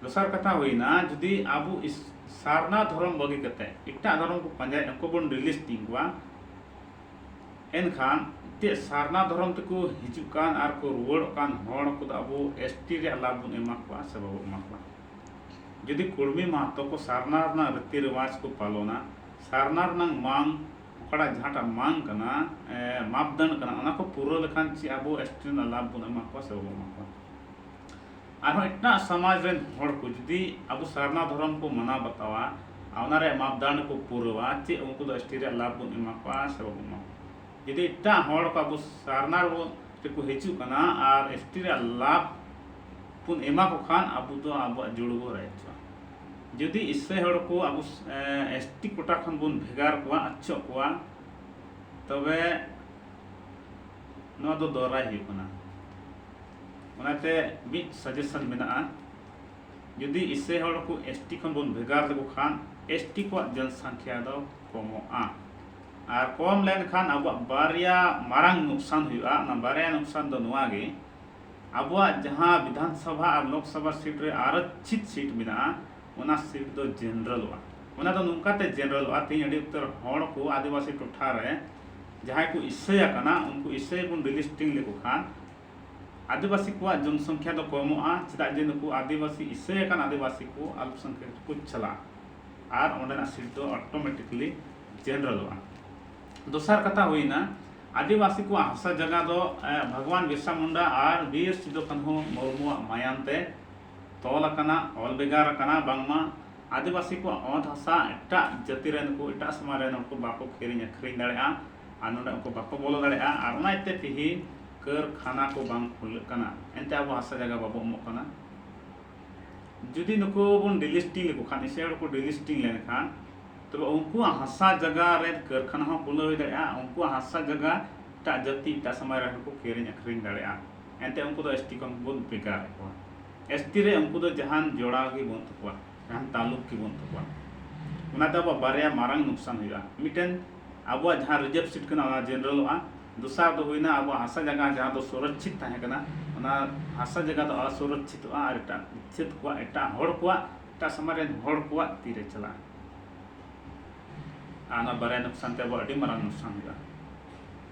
ᱫᱚᱥᱟᱨ ᱠᱟᱛᱷᱟ ᱦᱩᱭᱱᱟ ᱡᱩᱫᱤ ᱟᱵᱚ ᱥᱟᱨᱱᱟ ᱫᱷᱚᱨᱚᱢ ᱵᱟᱹᱜᱤ ᱠᱟᱛᱮ ᱮᱴᱟᱜ ᱫᱷᱚᱨᱚᱢ ᱠᱚ ᱯᱟᱱᱡᱟᱭᱮᱫ ᱩᱱᱠᱩ ᱵᱚᱱ ᱰᱤᱞᱤᱥᱴᱤᱝ ᱠᱚᱣᱟ ᱮᱱᱠᱷᱟᱱ ᱪᱮᱫ ᱥᱟᱨᱱᱟ ᱫᱷᱚᱨᱚᱢ ᱛᱮᱠᱚ ᱦᱤᱡᱩᱜ ᱠᱟᱱ ᱟᱨ ᱠᱚ ᱨᱩᱣᱟᱹᱲᱚᱜ ᱠᱟᱱ ᱦᱚᱲ ᱠᱚᱫᱚ ᱟᱵᱚ ᱮᱥ ᱴᱤ ᱨᱮᱭᱟᱜ ᱞᱟᱵᱷ ᱵᱚᱱ ᱮᱢᱟ ᱠᱚᱣᱟ ᱥᱮ ᱵᱟᱵᱚ ᱮᱢᱟ ᱠᱚᱣᱟ ᱡᱩᱫᱤ ᱠᱩᱲᱢᱤ ᱢᱟᱦᱟᱛᱚ ᱠᱚ ᱥᱟᱨᱱᱟ ᱨᱮᱱᱟᱜ ᱨᱤᱛᱤ ᱨᱮᱣᱟᱡᱽ ᱠᱚ ᱯᱟᱞᱚᱱᱟ ᱥᱟᱨᱱᱟ ᱨᱮᱱᱟᱜ ᱢᱟᱱ ᱚᱠᱟᱴᱟᱜ ᱡᱟᱦᱟᱸᱴᱟᱜ ᱢᱟᱝ ᱠᱟᱱᱟ ᱢᱟᱯᱫᱟᱱ ᱠᱟᱱᱟ ᱚᱱᱟ ᱠᱚ ᱯᱩᱨᱟᱹᱣ ᱞᱮᱠᱷᱟᱱ ᱪᱮᱫ ᱟᱵᱚ ᱮᱥᱴᱤ ᱨᱮᱱᱟᱜ ᱞᱟᱵᱷ ᱵᱚᱱ ᱮᱢᱟ ᱠᱚᱣᱟ ᱥᱮ ᱵᱟᱵᱚᱱ ᱮᱢᱟ ᱠᱚᱣᱟ ᱟᱨᱦᱚᱸ ᱮᱴᱟᱜ ᱥᱚᱢᱟᱡᱽ ᱨᱮᱱ ᱦᱚᱲ ᱠᱚ ᱡᱩᱫᱤ ᱟᱵᱚ ᱥᱟᱨᱱᱟ ᱫᱷᱚᱨᱚᱢ ᱠᱚ ᱢᱟᱱᱟᱣ ᱵᱟᱛᱟᱣᱟ ᱟᱨ ᱚᱱᱟ ᱨᱮᱭᱟᱜ ᱢᱟᱯᱫᱟᱱ ᱠᱚ ᱯᱩᱨᱟᱹᱣᱟ ᱪᱮᱫ ᱩᱱᱠᱩ ᱫᱚ ᱮᱥᱴᱤ ᱨᱮᱭᱟᱜ ᱞᱟᱵᱷ ᱵᱚᱱ ᱮᱢᱟ ᱠᱚᱣᱟ ᱥᱮ ᱵᱟᱵᱚᱱ ᱮᱢᱟ ᱠᱚᱣᱟ ᱡᱩᱫᱤ ᱮᱴᱟᱜ ᱦᱚᱲ ᱠᱚ ᱟᱵᱚ ᱥᱟᱨᱱᱟ ᱨᱮᱵᱚ ᱨᱮᱠᱚ ᱦᱤᱡᱩᱜ ᱠᱟᱱᱟ ᱟᱨ ᱮᱥᱴᱤ ᱨᱮᱭᱟᱜ ᱞᱟᱵᱷ ᱵᱚᱱ ᱮᱢᱟ ᱠᱚ ᱠᱷᱟᱱ ᱟᱵᱚ ᱫᱚ ᱟᱵᱚᱣᱟᱜ ᱡᱩᱲᱩ ᱵᱚᱱ ᱨᱟᱭᱮᱫ ᱠᱚᱣᱟ ᱡᱩᱫᱤ ᱤᱥᱥᱟᱹᱭ ᱦᱚᱲ ᱠᱚ ᱟᱵᱚ ᱮᱥ ᱴᱤ ᱠᱳᱴᱟ ᱠᱷᱚᱱ ᱵᱚᱱ ᱵᱷᱮᱜᱟᱨ ᱠᱚᱣᱟ ᱟᱪᱪᱷᱚᱜ ᱠᱚᱣᱟ ᱛᱚᱵᱮ ᱱᱚᱣᱟ ᱫᱚ ᱫᱚᱨᱟᱭ ᱦᱩᱭᱩᱜ ᱠᱟᱱᱟ ᱚᱱᱟᱛᱮ ᱢᱤᱫ ᱥᱟᱡᱮᱥᱚᱱ ᱢᱮᱱᱟᱜᱼᱟ ᱡᱩᱫᱤ ᱤᱥᱥᱟᱹᱭ ᱦᱚᱲ ᱠᱚ ᱮᱥ ᱴᱤ ᱠᱷᱚᱱ ᱵᱚᱱ ᱵᱷᱮᱜᱟᱨ ᱞᱮᱠᱚ ᱠᱷᱟᱱ ᱮᱥ ᱴᱤ ᱠᱚᱣᱟᱜ ᱡᱚᱱᱥᱚᱝᱠᱷᱭᱟ ᱫᱚ ᱠᱚᱢᱚᱜᱼᱟ ᱟᱨ ᱠᱚᱢ ᱞᱮᱱᱠᱷᱟᱱ ᱟᱵᱚᱣᱟᱜ ᱵᱟᱨᱭᱟ ᱢᱟᱨᱟᱝ ᱱᱩᱠᱥᱟᱱ ᱦᱩᱭᱩᱜᱼᱟ ᱚᱱᱟ ᱵᱟᱨᱭᱟ ᱱᱩᱠᱥᱟᱱ ᱫᱚ ᱱᱚᱣᱟ ᱜᱮ ᱟᱵᱚᱣᱟᱜ ᱡᱟᱦᱟᱸ ᱵᱤᱫᱷᱟᱱᱥᱚᱵᱷᱟ ᱟᱨ ᱞᱳᱠᱥᱚᱵᱷᱟ ᱥᱤᱴ ᱨᱮ ᱟᱨᱚᱠᱪᱷᱤᱛ ᱥᱤᱴ ᱢᱮᱱᱟᱜᱼᱟ ᱚᱱᱟ ᱥᱤᱴ ᱫᱚ ᱡᱮᱱᱨᱟᱞᱚᱜᱼᱟ᱾ ᱚᱱᱟ ᱫᱚ ᱱᱚᱝᱠᱟ ᱛᱮ ᱡᱮᱱᱨᱟᱞᱚᱜᱼᱟ ᱛᱮᱦᱮᱧ ᱟᱹᱰᱤ ᱩᱛᱟᱹᱨ ᱦᱚᱲ ᱠᱚ ᱟᱹᱫᱤᱵᱟᱹᱥᱤ ᱴᱚᱴᱷᱟ ᱨᱮ ᱡᱟᱦᱟᱸᱭ ᱠᱚ ᱤᱥᱟᱹᱭ ᱟᱠᱟᱱᱟ ᱩᱱᱠᱩ ᱤᱥᱟᱹᱭ ᱵᱚᱱ ᱰᱤᱞᱤᱥᱴᱤᱝ ᱞᱮᱠᱚ ᱠᱷᱟᱱ ᱟᱹᱫᱤᱵᱟᱹᱥᱤ ᱠᱚᱣᱟᱜ ᱡᱚᱱᱥᱚᱝᱠᱷᱭᱟ ᱫᱚ ᱠᱚᱢᱚᱜᱼᱟ ᱪᱮᱫᱟᱜ ᱡᱮ ᱱᱩᱠᱩ ᱟᱹᱫᱤᱵᱟᱹᱥᱤ ᱤᱥᱟᱹᱭ ᱟᱠᱟᱱ ᱟᱹᱫᱤᱵᱟᱹᱥᱤ ᱠᱚ ᱟᱞᱯᱥᱚᱝᱠᱷᱭᱚᱠ ᱨᱮᱠᱚ ᱪᱟᱞᱟᱜᱼᱟ ᱟᱨ ᱚᱸᱰᱮᱱᱟᱜ ᱥᱤᱴ ᱫᱚ ᱚᱴᱚᱢᱮᱴᱤᱠᱞᱤ ᱡᱮᱱᱨᱟᱞᱚᱜᱼᱟ᱾ ᱫᱚᱥᱟᱨ ᱠᱟᱛᱷᱟ ᱦᱩᱭᱱᱟ ᱟᱹᱫᱤᱵᱟᱹᱥᱤ ᱠᱚᱣᱟᱜ ᱦᱟᱥᱟ ᱡᱟᱭᱜᱟ ᱫᱚ ᱵᱷᱟᱜᱽᱣᱟᱱ ᱵᱤᱨᱥᱟ ᱢᱩᱱᱰᱟ ᱟᱨ ᱵᱤᱨ ᱥᱤᱫᱩ ᱠᱟᱹᱱᱦᱩ ᱢᱩᱨᱢᱩᱣᱟᱜ ᱢᱟᱭᱟᱢ ᱛᱮ ᱛᱚᱞ ᱟᱠᱟᱱᱟ ᱚᱞ ᱵᱷᱮᱜᱟᱨ ᱟᱠᱟᱱᱟ ᱵᱟᱝᱢᱟ ᱟᱹᱫᱤᱵᱟᱹᱥᱤ ᱠᱚᱣᱟᱜ ᱚᱛ ᱦᱟᱥᱟ ᱮᱴᱟᱜ ᱡᱟᱹᱛᱤ ᱨᱮᱱ ᱠᱚ ᱮᱴᱟᱜ ᱥᱚᱢᱟᱡᱽ ᱨᱮᱱ ᱦᱚᱲ ᱠᱚ ᱵᱟᱠᱚ ᱠᱤᱨᱤᱧ ᱟᱹᱠᱷᱨᱤᱧ ᱫᱟᱲᱮᱭᱟᱜᱼᱟ ᱟᱨ ᱱᱚᱰᱮ ᱩᱱᱠᱩ ᱵᱟᱠᱚ ᱵᱚᱞᱚ ᱫᱟᱲᱮᱭᱟᱜᱼᱟ ᱟᱨ ᱚᱱᱟ ᱤᱭᱟᱹᱛᱮ ᱛᱮᱦᱮᱧ ᱠᱟᱹᱨᱠᱷᱟᱱᱟ ᱠᱚ ᱵᱟᱝ ᱠᱷᱩᱞᱟᱹᱜ ᱠᱟᱱᱟ ᱮᱱᱛᱮ ᱟᱵᱚ ᱦᱟᱥᱟ ᱡᱟᱭᱜᱟ ᱵᱟᱵᱚ ᱮᱢᱚᱜ ᱠᱟᱱᱟ ᱡᱩᱫᱤ ᱱᱩᱠᱩ ᱵᱚᱱ ᱰᱤᱞᱤᱥᱴᱤᱝ ᱞᱮᱠᱚ ᱠᱷᱟᱱ ᱮᱥᱤᱭᱟᱱ ᱦᱚᱲ ᱠᱚ ᱰᱤᱞᱤᱥᱴᱤᱝ ᱞᱮᱱᱠᱷᱟᱱ ᱛᱚᱵᱮ ᱩᱱᱠᱩᱣᱟᱜ ᱦᱟᱥᱟ ᱡᱟᱭᱜᱟ ᱨᱮ ᱠᱟᱹᱨᱠᱷᱟᱱᱟ ᱦᱚᱸ ᱠᱷᱩᱞᱟᱹᱣ ᱦᱩᱭ ᱫᱟᱲᱮᱭᱟᱜᱼᱟ ᱩᱱᱠᱩᱣᱟᱜ ᱦᱟᱥᱟ ᱡᱟᱭᱜᱟ ᱮᱴᱟᱜ ᱡᱟᱹᱛᱤ ᱮᱴᱟᱜ ᱥᱚᱢᱟᱡᱽ ᱨᱮᱱ ᱦᱚᱲ ᱠᱚ ᱠᱤᱨᱤᱧ ᱟᱹᱠᱷᱨᱤᱧ ᱫᱟᱲᱮᱭᱟᱜᱼᱟ ᱮᱱᱛᱮ ᱩᱱᱠᱩ ᱫᱚ ᱮᱥ ᱴᱤ ᱠᱷᱚᱱ ᱵᱚᱱ ᱵᱷᱮᱜᱟᱨ ᱮᱫ ᱠᱚᱣᱟ ᱮᱥ ᱴᱤ ᱨᱮ ᱩᱱᱠᱩ ᱫᱚ ᱡᱟᱦᱟᱱ ᱡᱚᱲᱟᱣ ᱜᱮ ᱵᱟᱹᱱᱩᱜ ᱛᱟᱠᱚᱣᱟ ᱡᱟᱦᱟᱱ ᱛᱟᱞᱩᱠ ᱜᱮ ᱵᱟᱹᱱᱩᱜ ᱛᱟᱠᱚᱣᱟ ᱚᱱᱟᱛᱮ ᱟᱵᱚᱣᱟᱜ ᱵᱟᱨᱭᱟ ᱢᱟᱨᱟᱝ ᱞᱳᱠᱥᱟᱱ ᱦᱩᱭᱩᱜᱼᱟ ᱢᱤᱫᱴᱮᱱ ᱟᱵᱚᱣᱟᱜ ᱡᱟᱦᱟᱸ ᱨᱤᱡᱟᱨᱵᱷ ᱥᱤᱴ ᱠᱟᱱᱟ ᱚᱱᱟ ᱡᱮᱱᱟᱨᱮᱞᱚᱜᱼᱟ ᱫᱚᱥᱟᱨ ᱫᱚ ᱦᱩᱭᱱᱟ ᱟᱵᱚᱣᱟᱜ ᱦᱟᱥᱟ ᱡᱟᱭᱜᱟ ᱡᱟᱦᱟᱸ ᱫᱚ ᱥᱚᱨᱚᱪᱪᱷᱤᱛ ᱛᱟᱦᱮᱸ ᱠᱟᱱᱟ ᱚᱱᱟ ᱦᱟᱥᱟ ᱡᱟᱭᱜᱟ ᱫᱚ ᱚᱥᱚᱨᱚᱪᱪᱷᱤᱛᱚᱜᱼᱟ ᱟᱨ ᱮᱴᱟᱜ ᱪᱷᱟᱹᱛ ᱠᱚᱣᱟᱜ ᱮᱴᱟᱜ ᱦᱚᱲ ᱠᱚᱣᱟᱜ ᱮᱴᱟᱜ ᱥᱚᱢᱟᱡᱽ ᱨᱮᱱ ᱦᱚᱲ ᱠᱚᱣᱟᱜ ᱛᱤ ᱨᱮ ᱪᱟᱞᱟᱜᱼᱟ ᱟᱨ ᱚᱱᱟ ᱵᱟᱨᱭᱟ ᱱᱩᱠᱥᱟᱱ ᱛᱮ ᱟᱵᱚᱣᱟᱜ ᱟᱹᱰᱤ ᱢᱟᱨᱟᱝ ᱱᱩᱠᱥᱟᱱ ᱦᱩᱭᱩᱜᱼᱟ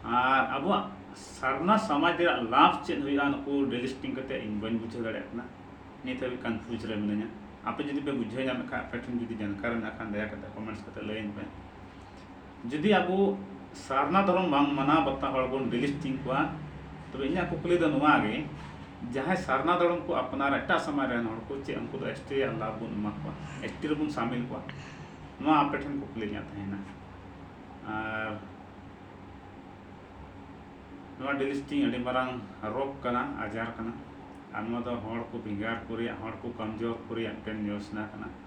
ᱟᱨ ᱟᱵᱚᱣᱟᱜ ᱥᱟᱨᱱᱟ ᱥᱚᱢᱟᱡᱽ ᱨᱮᱭᱟᱜ ᱞᱟᱵᱷ ᱪᱮᱫ ᱦᱩᱭᱩᱜᱼᱟ ᱱᱩᱠᱩ ᱰᱮᱞᱤᱥᱴᱤᱝ ᱠᱟᱛᱮ ᱤᱧ ᱵᱟᱹᱧ ᱵᱩᱡᱷᱟᱹᱣ ᱫᱟᱲᱮᱭᱟᱜ ᱠᱟᱱᱟ ᱱᱤᱛ ᱦᱟᱹᱵᱤᱡ ᱠᱚᱱᱯᱷᱤᱭᱩᱡᱽ ᱨᱮ ᱢᱤᱱᱟᱹᱧᱟ ᱟᱯᱮ ᱡᱩᱫᱤ ᱯᱮ ᱵᱩᱡᱷᱟᱹᱣ ᱧᱟᱢᱮᱫ ᱠᱷᱟᱱ ᱟᱯᱮ ᱴᱷᱮᱱ ᱡᱩᱫᱤ ᱡᱟᱱᱠᱟᱨ ᱢᱮᱱᱟᱜ ᱠᱷᱟᱱ ᱫᱟᱭᱟ ᱠᱟᱛᱮ ᱠᱚᱢᱮᱱᱴᱥ ᱠᱟᱛᱮ ᱞᱟᱹᱭᱟᱹᱧ ᱯᱮ ᱡᱩᱫᱤ ᱟᱵᱚ ᱥᱟᱨᱱᱟ ᱫᱷᱚᱨᱚᱢ ᱵᱟᱝ ᱢᱟᱱᱟᱣ ᱵᱟᱛᱟᱣ ᱦᱚᱲ ᱵᱚᱱ ᱰᱤᱞᱤᱥᱴᱤᱝ ᱠᱚᱣᱟ ᱛᱚᱵᱮ ᱤᱧᱟᱹᱜ ᱠᱩᱠᱞᱤ ᱫᱚ ᱱᱚᱣᱟ ᱜᱮ ᱡᱟᱦᱟᱸᱭ ᱥᱟᱨᱱᱟ ᱫᱷᱚᱨᱚᱢ ᱠᱚ ᱟᱯᱱᱟᱨ ᱮᱴᱟᱜ ᱥᱚᱢᱟᱡᱽ ᱨᱮᱱ ᱦᱚᱲ ᱠᱚ ᱪᱮᱫ ᱩᱱᱠᱩ ᱫᱚ ᱮᱥ ᱴᱤ ᱨᱮᱭᱟᱜ ᱞᱟᱵᱷ ᱵᱚᱱ ᱮᱢᱟ ᱠᱚᱣᱟ ᱮᱥ ᱴᱤ ᱨᱮᱵᱚᱱ ᱥᱟᱢᱤᱞ ᱠᱚᱣᱟ ᱱᱚᱣᱟ ᱟᱯᱮ ᱴᱷᱮᱱ ᱠᱩᱠᱞᱤ ᱤᱧᱟᱹᱜ ᱛᱟᱦᱮᱱᱟ ᱟᱨ ᱱᱚᱣᱟ ᱰᱤᱞᱤᱥᱴᱤᱝ ᱟᱹᱰᱤ ᱢᱟᱨᱟᱝ ᱨᱳᱜᱽ ᱠᱟᱱᱟ ᱟᱡᱟᱨ ᱠᱟᱱᱟ ᱟᱨ ᱱᱚᱣᱟ ᱫᱚ ᱦᱚᱲ ᱠᱚ ᱵᱷᱮᱜᱟᱨ ᱠᱚ ᱨᱮᱭᱟᱜ ᱦᱚᱲ ᱠᱚ ᱠᱚᱢᱡᱳᱨ ᱠᱚ ᱨᱮᱭᱟᱜ ᱢᱤᱫᱴᱮᱱ ᱡᱳᱡᱽᱱᱟ ᱠᱟᱱᱟ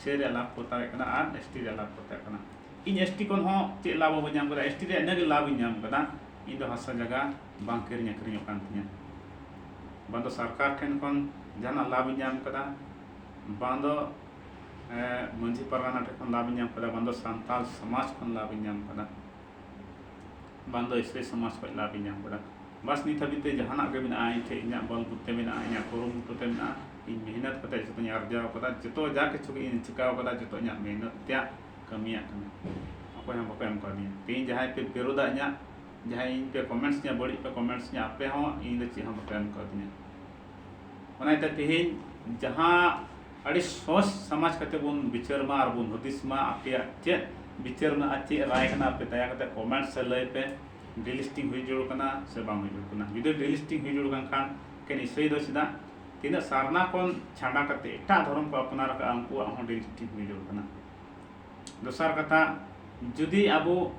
ᱥᱮ ᱨᱮᱭᱟᱜ ᱞᱟᱵᱷ ᱠᱚ ᱦᱟᱛᱟᱣᱮᱫ ᱠᱟᱱᱟ ᱟᱨ ᱮᱥ ᱴᱤ ᱨᱮᱭᱟᱜ ᱞᱟᱵᱷ ᱠᱚ ᱦᱟᱛᱟᱣᱮᱫ ᱠᱟᱱᱟ ᱤᱧ ᱮᱥ ᱴᱤ ᱠᱷᱚᱱ ᱦᱚᱸ ᱪᱮᱫ ᱞᱟᱵᱷ ᱵᱟᱹᱧ ᱧᱟᱢ ᱠᱟᱫᱟ ᱮᱥ ᱴᱤ ᱨᱮᱭᱟᱜ ᱤᱱᱟᱹᱜᱮ ᱞᱟᱵᱷ ᱤᱧ ᱧᱟᱢ ᱠᱟᱫᱟ ᱤᱧ ᱫᱚ ᱦᱟᱥᱟ ᱡᱟᱭᱜᱟ ᱵᱟᱝ ᱠᱤᱨᱤᱧ ᱟᱹᱠᱷᱨᱤᱧᱚᱜ ᱠᱟᱱ ᱛᱤᱧᱟᱹ ᱵᱟᱝ ᱫᱚ ᱥᱚᱨᱠᱟᱨ ᱴᱷᱮᱱ ᱠᱷᱚᱱ ᱡᱟᱦᱟᱱᱟᱜ ᱞᱟᱵᱷ ᱤᱧ ᱧᱟᱢ ᱠᱟᱫᱟ ᱵᱟᱝ ᱫᱚ ᱢᱟᱺᱡᱷᱤ ᱯᱟᱨᱜᱟᱱᱟ ᱴᱷᱮᱱ ᱠᱷᱚᱱ ᱞᱟᱵᱷ ᱤᱧ ᱧᱟᱢ ᱠᱟᱫᱟ ᱵᱟᱝ ᱫᱚ ᱥᱟᱱᱛᱟᱲ ᱥᱚᱢᱟᱡᱽ ᱠᱷᱚᱱ ᱞᱟᱵᱷ ᱤᱧ ᱧᱟᱢ ᱠᱟᱫᱟ ᱵᱟᱝ ᱫᱚ ᱮᱥ ᱥᱤ ᱥᱚᱢᱟᱡᱽ ᱠᱷᱚᱱ ᱞᱟᱵᱷ ᱤᱧ ᱧᱟᱢ ᱠᱟᱫᱟ ᱵᱟᱥ ᱱᱤᱛ ᱦᱟᱹᱵᱤᱡ ᱛᱮ ᱡᱟᱦᱟᱱᱟᱜ ᱜᱮ ᱢᱮᱱᱟᱜᱼᱟ ᱤᱧ ᱴᱷᱮᱱ ᱤᱧᱟᱹᱜ ᱵᱚᱞ ᱵᱩᱫᱽᱫᱷᱤ ᱢᱮᱱᱟᱜᱼᱟ ᱤᱧᱟᱹᱜ ᱠᱩᱨᱩᱢᱩᱴᱩ ᱛᱮ ᱢᱮᱱᱟᱜᱼᱟ ᱤᱧ ᱢᱮᱦᱱᱚᱛ ᱠᱟᱛᱮ ᱡᱚᱛᱚᱧ ᱟᱨᱡᱟᱣ ᱟᱠᱟᱫᱟ ᱡᱚᱛᱚ ᱡᱟ ᱠᱤᱪᱷᱩ ᱜᱮ ᱤᱧ ᱪᱤᱠᱟᱹ ᱟᱠᱟᱫᱟ ᱡᱚᱛᱚ ᱤᱧᱟᱹᱜ ᱢᱮᱦᱱᱚᱛ ᱛᱮᱭᱟᱜ ᱠᱟᱹᱢᱤᱭᱟᱜ ᱠᱟᱱᱟ ᱚᱠᱚᱭ ᱦᱚᱸ ᱵᱟᱠᱚ ᱮᱢ ᱟᱠᱟᱣᱫᱤᱧᱟ ᱛᱮᱦᱮᱧ ᱡᱟᱦᱟᱸᱭ ᱯᱮ ᱵᱤᱨᱳᱫᱟ ᱤᱧᱟᱹᱜ ᱡᱟᱦᱟᱸᱭ ᱤᱧ ᱯᱮ ᱠᱚᱢᱮᱱᱴᱥ ᱤᱧᱟᱹ ᱵᱟᱹᱲᱤᱡ ᱯᱮ ᱠᱚᱢᱮᱱᱴᱥ ᱤᱧᱟᱹ ᱟᱯᱮ ᱦᱚᱸ ᱤᱧ ᱫᱚ ᱪᱮᱫ ᱦᱚᱸ ᱵᱟᱯᱮ ᱮᱢ ᱟᱠᱟᱣᱫᱤᱧᱟ ᱚᱱᱟ ᱤᱭᱟᱹᱛᱮ ᱛᱮᱦᱮᱧ ᱡᱟᱦᱟᱸ ᱟᱹᱰᱤ ᱥᱚᱦᱚᱡᱽ ᱥᱟᱢᱟᱡᱽ ᱠᱟᱛᱮ ᱵᱚᱱ ᱵᱤᱪᱟᱹᱨ ᱢᱟ ᱟᱨ ᱵᱚᱱ ᱦᱩᱫᱤᱥ ᱢᱟ ᱟᱯᱮᱭᱟᱜ ᱪᱮᱫ ᱵᱤᱪᱟᱹᱨ ᱢᱮᱱᱟᱜᱼᱟ ᱪᱮᱫ ᱨᱟᱭ ᱢᱮᱱᱟᱜᱼᱟ ᱟᱯᱮ ᱫᱟᱭᱟ ᱠᱟᱛᱮ ᱠᱚᱢᱮᱱᱴᱥ ᱨᱮ ᱞᱟᱹᱭ ᱯᱮ ᱰᱤᱞᱤᱥᱴᱤᱝ ᱦᱩᱭ ᱡᱟᱹᱨᱩᱲ ᱠᱟᱱᱟ ᱥᱮ ᱵᱟᱝ ᱦᱩᱭ ᱡᱟᱹᱨᱩᱲ ᱠᱟᱱᱟ ᱡᱩᱫᱤ ᱰᱤᱞᱤᱥᱴᱤᱝ ᱦᱩᱭ ᱡᱟᱹᱨᱩᱲ ᱠᱟᱱ ᱠᱷᱟᱱ ᱠᱮ ᱱᱤᱥᱪᱚᱭ ᱫᱚ ᱪᱮᱫᱟᱜ ᱛᱤᱱᱟᱹᱜ ᱥᱟᱨᱱᱟ ᱠᱷᱚᱱ ᱪᱷᱟᱰᱟ ᱠᱟᱛᱮ ᱮᱴᱟᱜ ᱫᱷᱚᱨᱚᱢ ᱠᱚ ᱟᱯᱱᱟᱨ ᱟᱠᱟᱫᱼᱟ ᱩᱱᱠᱩᱣᱟᱜ ᱦᱚᱸ ᱰᱤᱞᱤᱥᱴᱤᱝ ᱦᱩᱭ ᱡᱟᱹᱨᱩᱲ ᱠᱟᱱᱟ ᱫᱚᱥᱟᱨ ᱠᱟᱛᱷᱟ ᱡᱩᱫᱤ ᱟᱵᱚ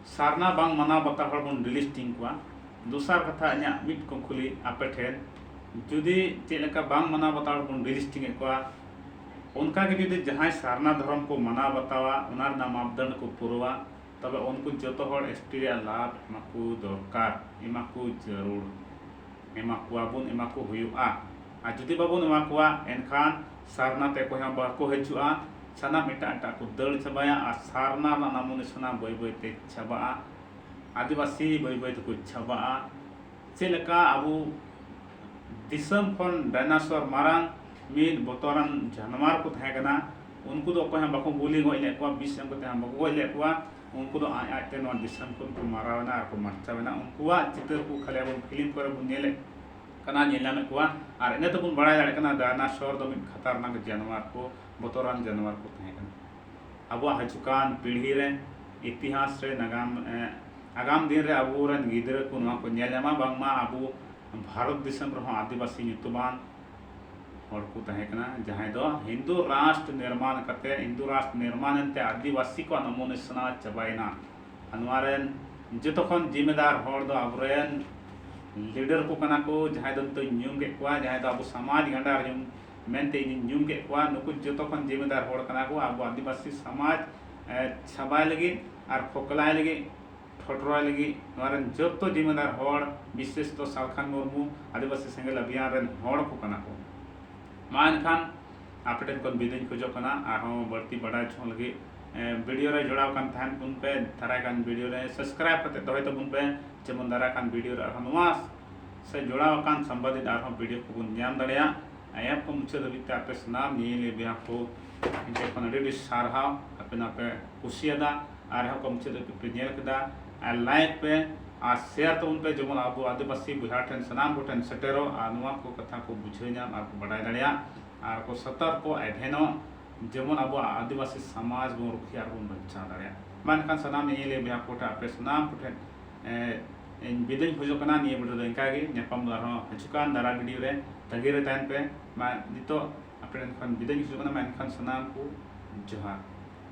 ᱥᱟᱨᱱᱟ ᱵᱟᱝ ᱢᱟᱱᱟᱣ ᱵᱟᱛᱟᱣ ᱦᱚᱲ ᱵᱚᱱ ᱰᱤᱞᱤᱥᱴᱤᱝ ᱠᱚᱣᱟ ᱫᱚᱥᱟᱨ ᱠᱟᱛᱷᱟ ᱤᱧᱟᱹᱜ ᱢᱤᱫ ᱠᱩᱠᱞᱤ ᱟᱯᱮ ᱴᱷᱮᱱ ᱡᱩᱫᱤ ᱪᱮᱫ ᱞᱮᱠᱟ ᱵᱟᱝ ᱢᱟᱱᱟᱣ ᱵᱟᱛᱟᱣ ᱦᱚᱲ ᱵᱚᱱ ᱰᱤᱞᱤᱥᱴᱤᱝ ᱮᱫ ᱠᱚᱣᱟ ᱚᱱᱠᱟ ᱜᱮ ᱡᱩᱫᱤ ᱡᱟᱦᱟᱸᱭ ᱥᱟᱨᱱᱟ ᱫᱷᱚᱨᱚᱢ ᱠᱚ ᱢᱟᱱᱟᱣ ᱵᱟᱛᱟᱣᱟ ᱚᱱᱟ ᱨᱮᱱᱟᱜ ᱢᱟᱯᱫᱚᱱᱰ ᱠᱚ ᱯᱩᱨᱟᱹᱣᱟ ᱛᱚᱵᱮ ᱩᱱᱠᱩ ᱡᱚᱛᱚ ᱦᱚᱲ ᱮᱥ ᱴᱤ ᱨᱮᱭᱟᱜ ᱞᱟᱵᱷ ᱮᱢᱟ ᱠᱚ ᱫᱚᱨᱠᱟᱨ, ᱮᱢᱟ ᱠᱚ ᱡᱟᱹᱨᱩᱲ, ᱮᱢᱟ ᱠᱚᱣᱟ ᱵᱚᱱ, ᱮᱢᱟ ᱠᱚ ᱦᱩᱭᱩᱜᱼᱟ᱾ ᱟᱨ ᱡᱩᱫᱤ ᱵᱟᱵᱚᱱ ᱮᱢᱟ ᱠᱚᱣᱟ ᱮᱱᱠᱷᱟᱱ ᱥᱟᱨᱱᱟ ᱛᱮ ᱚᱠᱚᱭ ᱦᱚᱸ ᱵᱟᱠᱚ ᱦᱤᱡᱩᱜᱼᱟ, ᱥᱟᱱᱟᱢ ᱮᱴᱟᱜ ᱮᱴᱟᱜ ᱠᱚ ᱫᱟᱹᱲ ᱪᱟᱵᱟᱭᱟ ᱟᱨ ᱥᱟᱨᱱᱟ ᱨᱮᱱᱟᱜ ᱱᱟᱢᱚ ᱱᱤᱥᱟᱱᱟ ᱵᱟᱹᱭ ᱵᱟᱹᱭ ᱛᱮ ᱪᱟᱵᱟᱜᱼᱟ᱾ ᱟᱹᱫᱤᱵᱟᱹᱥᱤ ᱵᱟᱹᱭ ᱵᱟᱹᱭ ᱛᱮᱠᱚ ᱪᱟᱵᱟᱜᱼᱟ᱾ ᱪᱮᱫ ᱞᱮᱠᱟ ᱟᱵᱚ᱾ ᱫᱤᱥᱚᱢ ᱠᱷᱚᱱ ᱰᱟᱭᱱᱟᱥᱚᱨ ᱢᱟᱨᱟᱝ ᱢᱤᱫ ᱵᱚᱛᱚᱨᱟᱱ ᱡᱟᱱᱣᱟᱨ ᱠᱚ ᱛᱟᱦᱮᱸ ᱠᱟᱱᱟ ᱩᱱᱠᱩ ᱫᱚ ᱚᱠᱚᱭ ᱦᱚᱸ ᱵᱟᱠᱚ ᱜᱩᱞᱤ ᱜᱚᱡ ᱞᱮᱫ ᱠᱚᱣᱟ ᱵᱤᱥ ᱮᱢ ᱠᱟᱛᱮ ᱦᱚᱸ ᱵᱟᱠᱚ ᱜᱚᱡ ᱞᱮᱫ ᱠᱚᱣᱟ ᱩᱱᱠᱩ ᱫᱚ ᱟᱡ ᱟᱡ ᱛᱮ ᱱᱚᱣᱟ ᱫᱤᱥᱚᱢ ᱠᱷᱚᱱ ᱠᱚ ᱢᱟᱨᱟᱣ ᱮᱱᱟ ᱟᱨ ᱠᱚ ᱢᱟᱨᱪᱟᱣ ᱮᱱᱟ ᱩᱱᱠᱩᱣᱟᱜ ᱪᱤᱛᱟᱹᱨ ᱠᱚ ᱠᱷᱟᱹᱞᱤ ᱟᱵᱚ ᱯᱷᱤᱞᱢ ᱠᱚᱨᱮ ᱵᱚᱱ ᱧᱮᱞᱮᱫ ᱠᱟᱱᱟ ᱧᱮᱞ ᱧᱟᱢᱮᱫ ᱠᱚᱣᱟ ᱟᱨ ᱤᱱᱟᱹ ᱛᱮᱵᱚᱱ ᱵᱟᱲᱟᱭ ᱫᱟᱲᱮᱭᱟᱜ ᱠᱟᱱᱟ ᱰᱟᱭᱱᱟᱥᱚᱨ ᱫᱚ ᱢᱤᱫ ᱠᱷᱟᱛᱟᱨᱱᱟᱠ ᱡᱟᱱᱣᱟᱨ ᱠᱚ ᱵᱚᱛᱚᱨᱟᱱ ᱡᱟᱱᱣᱟᱨ ᱠᱚ ᱛᱟᱦᱮᱸ ᱠᱟᱱᱟ ᱟᱵᱚᱣᱟᱜ ᱦᱟᱹᱡᱩᱜ ᱠᱟᱱ ᱯᱤᱲᱦᱤ ᱨᱮ ᱤᱛᱤᱦᱟᱥ ᱨᱮ ᱱᱟᱜᱟᱢ ᱟᱜᱟᱢ ᱫᱤᱱ ᱨᱮ ᱟᱵᱚ ᱨᱮᱱ ᱜᱤᱫᱽᱨᱟᱹ ᱠᱚ ᱱᱚᱣᱟ ᱠᱚ ᱧᱮᱞ ᱧᱟᱢᱟ ᱵᱟᱝ ᱢᱟ ᱟᱵᱚ ᱵᱷᱟᱨᱚᱛ ᱫᱤᱥᱚᱢ ᱨᱮᱦᱚᱸ ᱟᱹᱫᱤᱵᱟᱹᱥᱤ ᱧᱩᱛᱩᱢᱟᱱ ᱦᱚᱲ ᱠᱚ ᱛᱟᱦᱮᱸ ᱠᱟᱱᱟ ᱡᱟᱦᱟᱸᱭ ᱫᱚ ᱦᱤᱱᱫᱩ ᱨᱟᱥᱴᱨ ᱱᱤᱨᱢᱟᱱ ᱠᱟᱛᱮ ᱦᱤᱱᱫᱩ ᱨᱟᱥᱴᱨ ᱱᱤᱨᱢᱟᱱ ᱮᱱᱛᱮ ᱟᱹᱫᱤᱵᱟᱹᱥᱤ ᱠᱚᱣᱟᱜ ᱱᱚᱢᱚ ᱱᱤᱥᱟᱱᱟ ᱪᱟᱵᱟᱭᱮᱱᱟ ᱟᱨ ᱱᱚᱣᱟ ᱨᱮᱱ ᱡᱚᱛᱚ ᱠᱷᱚᱱ ᱡᱤᱢᱮᱫᱟᱨ ᱦᱚᱲ ᱫᱚ ᱟᱵᱚ ᱨᱮᱱ ᱞᱤᱰᱟᱨ ᱠᱚ ᱠᱟᱱᱟ ᱠᱚ ᱡᱟᱦᱟᱸᱭ ᱫᱚ ᱱᱤᱛᱚᱜ ᱤᱧ ᱧᱩᱢ ᱠᱮᱫ ᱠᱚᱣᱟ ᱡᱟᱦᱟᱸᱭ ᱫᱚ ᱟᱵᱚ ᱥᱚᱢᱟᱡᱽ ᱜᱟᱸᱰᱟᱨ ᱧᱩᱢ ᱢᱮᱱᱛᱮ ᱤᱧᱤᱧ ᱧᱩᱢ ᱠᱮᱫ ᱠᱚᱣᱟ ᱱᱩᱠᱩ ᱡᱚᱛᱚ ᱠᱷᱚᱱ ᱡᱤᱢᱤᱫᱟᱨ ᱦᱚᱲ ᱠᱟᱱᱟ ᱠᱚ ᱟᱵᱚ ᱟᱹᱫᱤᱵᱟᱹᱥᱤ ᱥᱚᱢᱟᱡᱽ ᱪᱷᱟᱵᱟᱭ ᱞᱟᱹᱜᱤᱫ ᱟᱨ ᱠᱷᱚᱠᱞᱟᱭ ᱞᱟᱹᱜᱤᱫ ᱴᱷᱚᱴᱨᱚᱭ ᱞᱟᱹᱜᱤᱫ ᱱᱚᱣᱟ ᱨᱮᱱ ᱡᱚᱛᱚ ᱡᱤᱢᱤᱫᱟᱨ ᱦᱚᱲ ᱵᱤᱥᱮᱥ ᱫᱚ ᱥᱟᱞᱠᱷᱟᱱ ᱢᱩᱨᱢᱩ ᱟᱹᱫᱤᱵᱟᱹᱥᱤ ᱥᱮᱸᱜᱮᱞ ᱚᱵᱷᱤᱭᱟᱱ ᱨᱮᱱ ᱦᱚᱲ ᱠᱚ ᱠᱟᱱᱟ ᱠᱚ ᱢᱟ ᱮᱱᱠᱷᱟᱱ ᱟᱯᱮ ᱴᱷᱮᱱ ᱠᱷᱚᱱ ᱵᱤᱫᱟᱹᱧ ᱠᱷᱚᱡᱚᱜ ᱠᱟᱱᱟ ᱟᱨᱦᱚᱸ ᱵᱟᱹᱲᱛᱤ ᱵᱟᱰᱟᱭ ᱪᱷᱚᱝ ᱞᱟᱹᱜᱤᱫ ᱵᱷᱤᱰᱤᱭᱳ ᱨᱮ ᱡᱚᱲᱟᱣ ᱠᱟᱱ ᱛᱟᱦᱮᱱ ᱵᱚᱱ ᱯᱮ ᱫᱟᱨᱟᱭ ᱠᱟᱱ ᱵᱷᱤᱰᱤᱭᱳ ᱨᱮ ᱥᱟᱵᱥᱠᱨᱟᱭᱤᱵ ᱠᱟᱛᱮ ᱫᱚᱦᱚᱭ ᱛᱟᱵᱚᱱ ᱯᱮ ᱡᱮᱢᱚᱱ ᱫᱟᱨᱟᱭ ᱠᱟᱱ ᱵᱷᱤᱰᱤᱭᱳ ᱨᱮ ᱟᱨᱦᱚᱸ ᱱᱚᱣᱟ ᱥᱮ ᱡᱚᱲᱟᱣ ᱟᱠᱟᱱ ᱥᱟᱢᱵᱟᱫᱤᱛ ᱟᱨᱦᱚᱸ ᱯᱤᱰᱤᱮᱯ ᱠᱚᱵᱚᱱ ᱧᱟᱢ ᱫᱟᱲᱮᱭᱟᱜ ᱟᱭᱟᱯ ᱠᱚ ᱢᱩᱪᱟᱹᱫ ᱫᱷᱟᱹᱵᱤᱡ ᱛᱮ ᱟᱯᱮ ᱥᱟᱱᱟᱢ ᱧᱮᱧᱮᱞᱤᱭᱟᱹ ᱵᱚᱭᱦᱟ ᱠᱚ ᱤᱧ ᱴᱷᱮᱱ ᱠᱷᱚᱱ ᱟᱹᱰᱤ ᱟᱹᱰᱤ ᱥᱟᱨᱦᱟᱣ ᱟᱯᱮ ᱱᱚᱣᱟ ᱯᱮ ᱠᱩᱥᱤᱭᱟᱫᱟ ᱟᱨᱦᱚᱸ ᱠᱚ ᱢᱩᱪᱟᱹᱫ ᱫᱷᱟᱹᱵᱤᱡ ᱯᱮ ᱧᱮᱞ ᱠᱮᱫᱟ ᱟᱨ ᱞᱟᱭᱤᱠ ᱯᱮ ᱟᱨ ᱥᱮᱭᱟᱨ ᱛᱟᱵᱚᱱ ᱯᱮ ᱡᱮᱢᱚᱱ ᱟᱵᱚ ᱟᱹᱫᱤᱵᱟᱹᱥᱤ ᱵᱚᱭᱦᱟ ᱴᱷᱮᱱ ᱥᱟᱱᱟᱢ ᱠᱚᱴᱷᱮᱱ ᱥᱮᱴᱮᱨᱚᱜ ᱟᱨ ᱱᱚᱣᱟ ᱠᱚ ᱠᱟᱛᱷᱟ ᱠᱚ ᱵᱩᱡᱷᱟᱹᱣ ᱧᱟᱢ ᱟᱨ ᱠᱚ ᱵᱟᱰᱟᱭ ᱫᱟᱲᱮᱭᱟᱜ ᱟᱨ ᱠᱚ ᱥᱚᱛᱚᱨᱠᱚ ᱮᱵᱷᱮᱱᱚᱜ ᱡᱮᱢᱚᱱ ᱟᱵᱚᱣᱟᱜ ᱟᱹᱫᱤᱵᱟᱹᱥᱤ ᱥᱚᱢᱟᱡᱽ ᱵᱚᱱ ᱨᱩᱠᱷᱤᱭᱟᱹ ᱟᱨ ᱵᱚᱱ ᱵᱟᱧᱪᱟᱣ ᱫᱟᱲᱮᱭᱟᱜ ᱢᱟ ᱮᱱᱠᱷᱟᱱ ᱥᱟᱱᱟᱢ ᱧᱮᱧᱮᱞᱤᱭᱟᱹ ᱵᱚᱭᱦᱟ ᱠᱚᱴᱷᱮᱱ ᱟᱯᱮ ᱥᱟᱱᱟᱢ ᱠᱚᱴᱷᱮᱱ ᱤᱧ ᱵᱤᱫᱟᱹᱧ ᱠᱷᱚᱡᱚᱜ ᱠᱟᱱᱟ ᱱᱤᱭᱟᱹ ᱵᱷᱤᱰᱤᱭᱳ ᱫᱚ ᱤᱱᱠᱟ ᱜᱮ ᱧᱟᱯᱟᱢ ᱫᱚ ᱟᱨᱦᱚᱸ ᱦᱤᱡᱩᱜ ᱠᱟᱱ ᱫᱟᱨᱟ ᱵᱷᱤᱰᱤᱭᱳ ᱨᱮ ᱛᱟᱹᱜᱤ ᱨᱮ ᱛᱟᱦᱮᱱ ᱯᱮ ᱢᱟ ᱱᱤᱛᱚᱜ ᱟᱯᱮ ᱴᱷᱮᱱ ᱠᱷᱚᱱ ᱵᱤᱫᱟᱹᱧ ᱠᱷᱚᱡᱚᱜ ᱠᱟᱱᱟ ᱢᱟ ᱮᱱᱠᱷᱟᱱ ᱥᱟᱱᱟᱢ ᱠᱚ ᱡᱚᱦᱟᱨ